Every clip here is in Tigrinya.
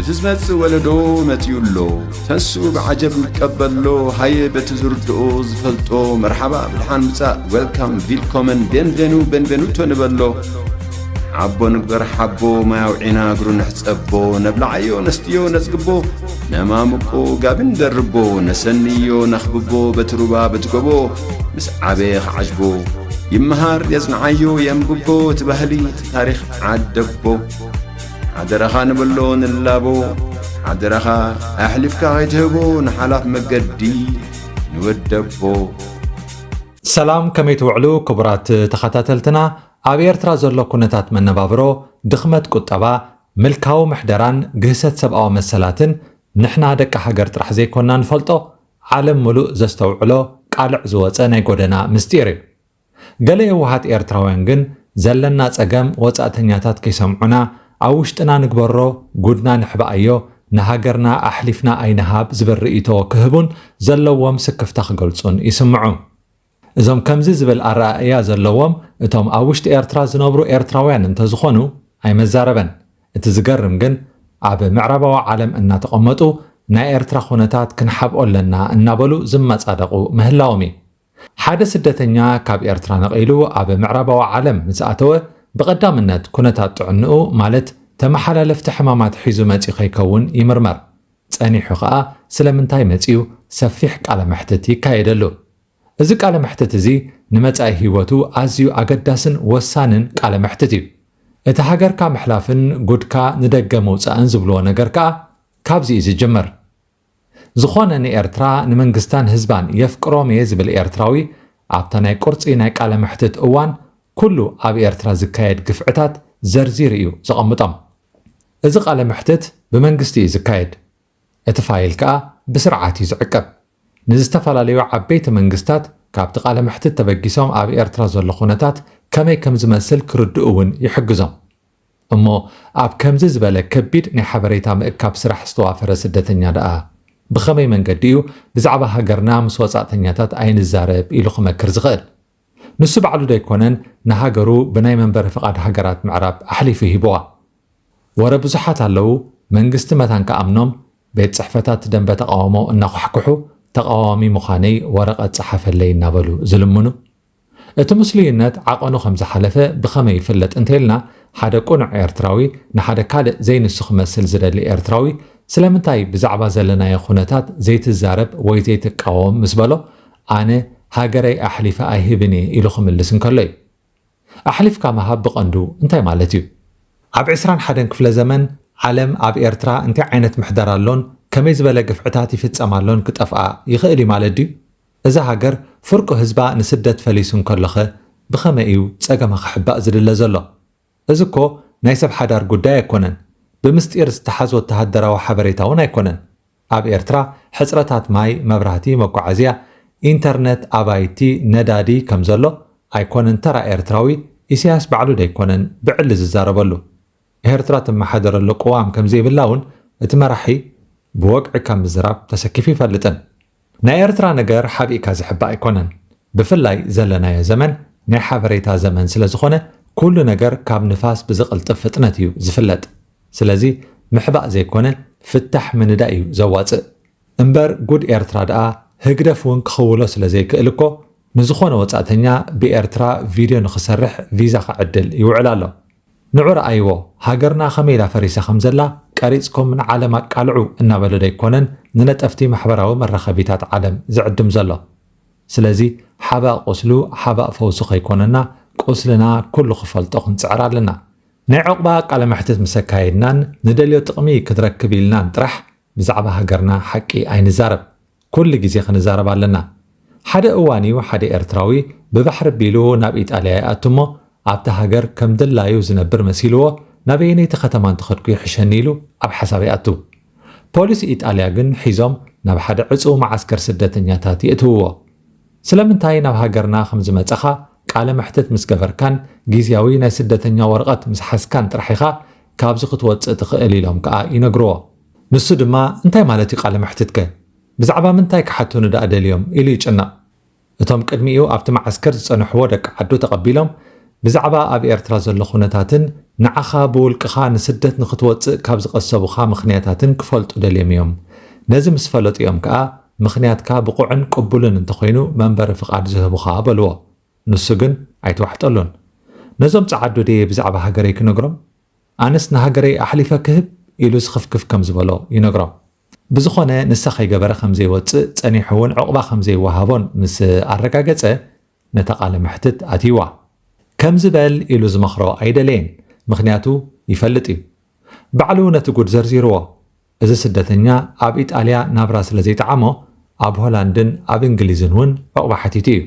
እቲ ዝመጽእ ወለዶ መጺኡ ኣሎ ተንስኡ ብዓጀብ ንቀበሎ ሃየ በቲ ዝርድኦ ዝፈልጦ መርሓባ ብድሓን ምጻእ ዌልካም ቪልኮመን ቤንቬኑ ቤንቬኑቶ ንበሎ ዓቦ ንግበር ሓቦ ማይ ኣውዒና እግሩ ንሕጸቦ ነብላዓዮ ነስትዮ ነጽግቦ ነማምቆ ጋቢ ንደርቦ ነሰንዮ ነኽብቦ በቲ ሩባ በቲ ጎቦ ምስ ዓበየ ክዓጅቦ ይመሃር የጽንዓዮ የንብቦ እቲ ባህሊ ታሪኽ ዓደቦ ሓደራኻ ንበሎ ንላቦ ሓደራኻ ኣሕሊፍካ ከይትህቦ ንሓላፍ መገዲ ንወደቦ ሰላም ከመይ ትውዕሉ ክቡራት ተኸታተልትና ኣብ ኤርትራ ዘሎ ኩነታት መነባብሮ ድኽመት ቁጠባ ምልካዊ ምሕደራን ግህሰት ሰብኣዊ መሰላትን ንሕና ደቂ ሃገር ጥራሕ ዘይኮንና ንፈልጦ ዓለም ምሉእ ዘስተውዕሎ ቃልዕ ዝወፀ ናይ ጎደና ምስጢር እዩ ገለ የዋሃት ኤርትራውያን ግን ዘለና ጸገም ወጻእተኛታት ከይሰምዑና ኣብ ውሽጥና ንግበሮ ጉድና ንሕባኣዮ ንሃገርና ኣሕሊፍና ኣይንሃብ ዝብል ርእይቶ ክህቡን ዘለዎም ስክፍታ ክገልጹን ይስምዑ። እዞም ከምዚ ዝብል ኣረኣእያ ዘለዎም እቶም ኣብ ውሽጢ ኤርትራ ዝነብሩ ኤርትራውያን እንተዝኾኑ ኣይመዛረበን። እቲ ዝገርም ግን ኣብ ምዕራባዊ ዓለም እናተቐመጡ ናይ ኤርትራ ኩነታት ክንሓብኦ ኣለና እናበሉ ዝመጻደቑ ምህላዎም እዩ። ሓደ ስደተኛ ካብ ኤርትራ ነቒሉ ኣብ ምዕራባዊ ዓለም ምስ ኣተወ፣ ብቐዳምነት ኩነታት ጥዕንኡ ማለት ተመሓላለፍቲ ሕማማት ሒዙ መጺኡ ከይከውን ይምርመር። ጸኒሑ ከኣ ስለምንታይ መጺኡ ሰፊሕ ቃለ መሕትት ይካየደሉ። እዚ ቃለ መሕትት እዚ ንመጻኢ ህይወቱ ኣዝዩ ኣገዳስን ወሳንን ቃለ መሕትት እዩ። እቲ ሃገርካ ምሕላፍን ጉድካ ንደገ ምውጻእን ዝብልዎ ነገር ከኣ ካብዚ እዩ ዝጅምር። ዝኾነ ንኤርትራ ንመንግስታን ህዝባን የፍቅሮም እየ ዝብል ኤርትራዊ ኣብታ ናይ ቁርጺ ናይ ቃለ መሕትት እዋን ኩሉ ኣብ ኤርትራ ዝካየድ ግፍዕታት ዘርዚሩ እዩ ዘቐምጦም። እዚ ቃለ መሕትት ብመንግስቲ እዩ ዝካየድ። እቲ ፋይል ከኣ ብስርዓት እዩ ዝዕቀብ። ንዝተፈላለዩ ዓበይቲ መንግስታት ካብቲ ቃለ መሕትት ተበጊሶም ኣብ ኤርትራ ዘሎ ኩነታት ከመይ ከምዝመስል ክርድኡ እውን ይሕግዞም። እሞ ኣብ ከምዚ ዝበለ ከቢድ ናይ ሓበሬታ ምእካብ ስራሕ ዝተዋፈረ ስደተኛ ደኣ ብኸመይ መንገዲ እዩ ብዛዕባ ሃገርና ምስ ወጻእተኛታት ኣይንዛረብ ኢሉ ክመክር ዝኽእል? ንሱ ባዕሉ ዶ ኣይኮነን ንሃገሩ ብናይ መንበሪ ፍቓድ ሃገራት ምዕራብ ኣሕሊፉ ሂቡዋ? ወረ ብዙሓት ኣለዉ መንግስቲ መታን ክኣምኖም ቤት ጽሕፈታት ደንበ ተቓውሞ እናዃሕኩሑ ተቓዋሚ ምዃነይ ወረቐት ጽሓፈለይ እናበሉ ዝልምኑ። እቲ ምስሉይነት ዓቐኑ ከም ዝሓለፈ ብኸመይ ይፍለጥ እንተይልና፣ ሓደ ቅኑዕ ኤርትራዊ ንሓደ ካልእ ዘይንሱ ክመስል ዝደሊ ኤርትራዊ፣ ስለምንታይ ብዛዕባ ዘለናዮ ኩነታት ዘይትዛረብ ወይ ዘይትቃወም ምስ በሎ፣ ኣነ ሃገረይ ኣሕሊፈ ኣይህብን እየ ኢሉ ክምልስ እንከሎ እዩ። ኣሕሊፍካ ምሃብ ብቐንዱ እንታይ ማለት እዩ? ኣብ ዕስራን ሓደን ክፍለ ዘመን ዓለም ኣብ ኤርትራ እንታይ ዓይነት ምሕደራ ኣሎን ከመይ ዝበለ ግፍዕታት ይፍጸም ኣሎን ክጠፍኣ ይኽእል እዩ ማለት ድዩ? እዛ ሃገር ፍርቁ ህዝባ ንስደት ፈሊሱ እንከሎኸ ብኸመይ እዩ ጸገማ ክሕባእ ዝድለ ዘሎ? እዚ እኮ ናይ ሰብ ሓዳር ጉዳይ ኣይኮነን፣ ብምስጢር ዝተሓዝ ወተሃደራዊ ሓበሬታ እውን ኣይኮነን። ኣብ ኤርትራ ሕጽረታት ማይ፣ መብራህቲ፣ መጓዓዝያ፣ ኢንተርነት፣ ኣባይቲ፣ ነዳዲ ከምዘሎ ኣይኮነን ተራ ኤርትራዊ ኢሳያስ ባዕሉ ደይኮነን ብዕሊ ዝዛረበሉ። ኤርትራ ትመሓደረሉ ቅዋም ከም ዘይብላ'ውን እቲ መራሒ ብወግዒ ካብ ምዝራብ ተሰኪፉ ኣይፈልጥን። ናይ ኤርትራ ነገር ሓቢእካ ዝሕባእ ኣይኮነን። ብፍላይ ዘለናዮ ዘመን ናይ ሓበሬታ ዘመን ስለ ዝኾነ ኩሉ ነገር ካብ ንፋስ ብዝቕልጥፍ ፍጥነት እዩ ዝፍለጥ። ስለዚ ምሕባእ ዘይኮነ ፍታሕ ምንዳይ እዩ ዘዋጽእ። እምበር ጉድ ኤርትራ ድኣ ህግደፍ ውን ክኽውሎ ስለ ዘይክእል እኮ ንዝኾነ ወጻእተኛ ብኤርትራ ቪድዮ ንኽሰርሕ ቪዛ ክዕድል ይውዕል ኣሎ። ንዑ ርኣይዎ ሃገርና ከመይ ኢላ ፈሪሳ ከም ዘላ ቀሪጽኩም ንዓለም ኣቃልዑ እናበለ ዶ ኣይኮነን ንነጠፍቲ ማሕበራዊ መራኸቢታት ዓለም ዝዕድም ዘሎ። ስለዚ ሓባእ ቁስሉ ሓባእ ፈውሱ ከይኮነና ቁስልና ኩሉ ክፈልጦ ክንጽዕር ኣለና። ናይ ዑቕባ ቃለ መሕትት ምስ ኣካየድናን ንደልዮ ጥቕሚ ክትረክብ ኢልናን ጥራሕ ብዛዕባ ሃገርና ሓቂ ኣይንዛረብ ኩሉ ግዜ ክንዛረብ ኣለና ሓደ እዋን እዩ ሓደ ኤርትራዊ ብባሕሪ ኣቢሉ ናብ ኢጣልያ ይኣቱ እሞ ኣብታ ሃገር ከም ድላዩ ዝነብር መሲልዎ ናበየነይቲ ከተማ እንተኸድኩ ይሕሸኒ ኢሉ ኣብ ሓሳብ ይኣቱ ፖሊስ ኢጣልያ ግን ሒዞም ናብ ሓደ ዕጽው መዓስከር ስደተኛታት የእትውዎ ስለምንታይ ናብ ሃገርና ከም ዝመጻኻ ቃለ መሕትት ምስ ገበርካን ግዝያዊ ናይ ስደተኛ ወረቐት ምስ ሓዝካን ጥራሕ ኢኻ ካብዚ ክትወጽእ ትኽእል ኢሎም ከኣ ይነግርዎ። ንሱ ድማ እንታይ ማለት እዩ ቃለ መሕትትከ? ብዛዕባ ምንታይ ክሓቱኒ ደኣ ደልዮም? ኢሉ ይጭነቕ። እቶም ቅድሚኡ ኣብቲ መዓስከር ዝጸንሕዎ ደቂ ዓዱ ተቐቢሎም ብዛዕባ ኣብ ኤርትራ ዘሎ ኩነታትን ንዓኻ ብውልቅኻ ንስደት ንኽትወጽእ ካብ ዝቐሰቡኻ ምኽንያታትን ክፈልጡ ደልዮም እዮም። ነዚ ምስ ፈለጡ እዮም ከኣ ምኽንያትካ ብቑዕን ቅቡልን እንተኾይኑ መንበሪ ፍቓድ ዝህቡኻ በልዎ። ንሱ ግን ኣይተዋሕጠሉን። ነዞም ጸዓዱ ድየ ብዛዕባ ሃገረይ ክነግሮም? ኣነስ ንሃገረይ ኣሕሊፈ ክህብ? ኢሉ ስኽፍክፍ ከም ዝበሎ ይነግሮም። ብዝኾነ ንሳ ከይገበረ ከም ዘይወጽእ ጸኒሑ'ውን ዕቝባ ከም ዘይወሃቦን ምስ ኣረጋገጸ ነታ ቃለ መሕትት ኣትዩዋ። ከምዚ በል ኢሉ ዝመኽሮ ኣይደለየን፣ ምኽንያቱ ይፈልጥ እዩ። ባዕሉ ነቲ ጕድ ዘርዚሩዎ። እዚ ስደተኛ ኣብ ኢጣልያ ናብራ ስለ ዘይጠዓሞ ኣብ ሆላንድን ኣብ እንግሊዝን ውን ዑቕባ ሓቲቱ እዩ።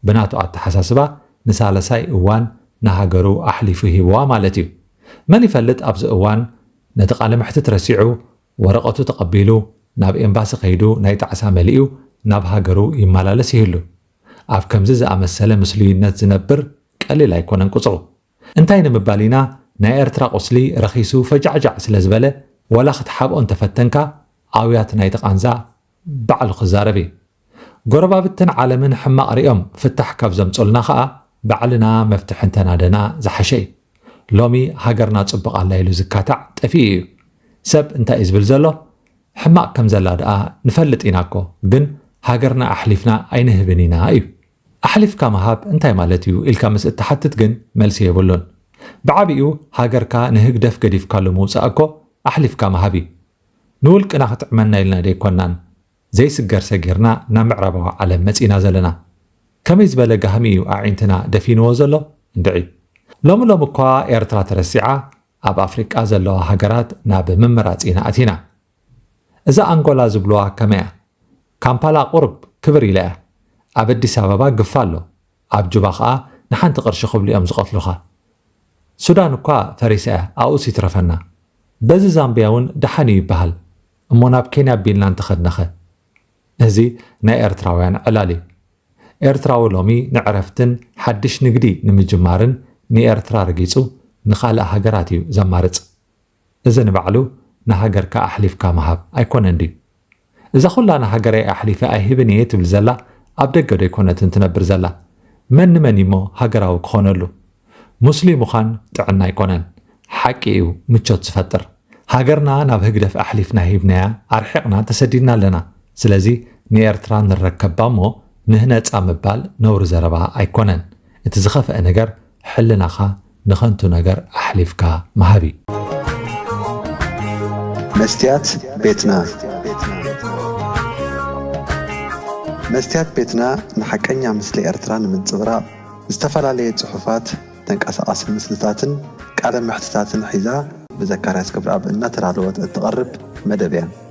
ብናቱ ኣተሓሳስባ ንሳለሳይ እዋን ንሃገሩ ኣሕሊፉ ሂቡዋ ማለት እዩ። መን ይፈልጥ ኣብዚ እዋን ነቲ ቃለ መሕትት ረሲዑ ወረቐቱ ተቐቢሉ ናብ ኤምባሲ ከይዱ ናይ ጣዕሳ መሊኡ ናብ ሃገሩ ይመላለስ ይህሉ። ኣብ ከምዚ ዝኣመሰለ ምስሉይነት ዝነብር ቀሊል ኣይኮነን ቁጽሩ። እንታይ ንምባል ኢና ናይ ኤርትራ ቁስሊ ረኺሱ ፈጃዕጃዕ ስለ ዝበለ ዋላ ክትሓብኦ እንተፈተንካ ኣውያት ናይቲ ቃንዛ ባዕሉ ክዛረብ እዩ ጎረባብትን ዓለምን ሕማቅ ሪኦም ፍታሕ ካብ ዘምጹልና ከኣ ባዕልና መፍትሒ እንተናደና ዝሓሸ እዩ ሎሚ ሃገርና ጽቡቅ ኣላ ኢሉ ዝካታዕ ጠፊኡ እዩ ሰብ እንታይ እዩ ዝብል ዘሎ ሕማቅ ከም ዘላ ደኣ ንፈልጥ ኢና እኮ ግን ሃገርና ኣሕሊፍና ኣይንህብን ኢና እዩ ኣሕሊፍካ ምሃብ እንታይ ማለት እዩ ኢልካ ምስ እትሓትት ግን መልሲ የብሉን። ብዓቢኡ ሃገርካ ንህግደፍ ገዲፍካሉ ምውጻእ እኮ ኣሕሊፍካ ምሃብ እዩ። ንውልቅና ክጥዕመና ኢልና ደይኮናን ዘይስገር ሰጊርና ናብ ምዕራባዊ ዓለም መጺእና ዘለና። ከመይ ዝበለ ጋህሚ እዩ ኣዒንትና ደፊንዎ ዘሎ እንድዒ። ሎሚ ሎሚ እኳ ኤርትራ ተረሲዓ ኣብ ኣፍሪቃ ዘለዋ ሃገራት ናብ ምምራጽ ኢና ኣቲና። እዛ ኣንጎላ ዝብልዋ ከመይ እያ ካምፓላ ቁርብ ክብር ኢላ እያ ኣብ ኣዲስ ኣበባ ግፋ ኣሎ ኣብ ጁባ ከኣ ንሓንቲ ቅርሺ ክብሉ እዮም ዝቀትሉካ ሱዳን እኳ ፈሪሳ እያ ኣብኡስ ይትረፈና በዚ ዛምብያ ውን ደሓን እዩ ይበሃል እሞ ናብ ኬንያ ኣቢልና እንተከድናኸ እዚ ናይ ኤርትራውያን ዕላል እዩ ኤርትራዊ ሎሚ ንዕረፍትን ሓድሽ ንግዲ ንምጅማርን ንኤርትራ ረጊጹ ንካልእ ሃገራት እዩ ዘማርጽ እዚ ንባዕሉ ንሃገርካ ኣሕሊፍካ ምሃብ ኣይኮነን ድዩ? እዛ ኩላ ንሃገረይ ኣሕሊፈ ኣይህብን እየ ትብል ዘላ ኣብ ደገ ዶ ኣይኮነትን ትነብር ዘላ? መን ንመን እዩሞ ሃገራዊ ክኾነሉ? ሙስሊም ምዃን ጥዕና ኣይኮነን። ሓቂ እዩ ምቾት ዝፈጥር። ሃገርና ናብ ህግደፍ ኣሕሊፍና ሂብናያ ኣርሒቕና ተሰዲድና ኣለና። ስለዚ ንኤርትራ ንረከባ እሞ ንህነጻ ምባል ነውሪ ዘረባ ኣይኮነን። እቲ ዝኸፍኣ ነገር ሕልናኻ ንኸንቱ ነገር ኣሕሊፍካ ምሃብ እዩ። መስትያት ቤትና መስትያት ቤትና ንሓቀኛ ምስሊ ኤርትራ ንምንጽብራቕ ዝተፈላለየ ጽሑፋት፣ ተንቀሳቓሲ ምስልታትን ቃለ መሕትታትን ሒዛ ብዘካርያስ ገብረኣብ እናተዳለወት እትቐርብ መደብ እያ።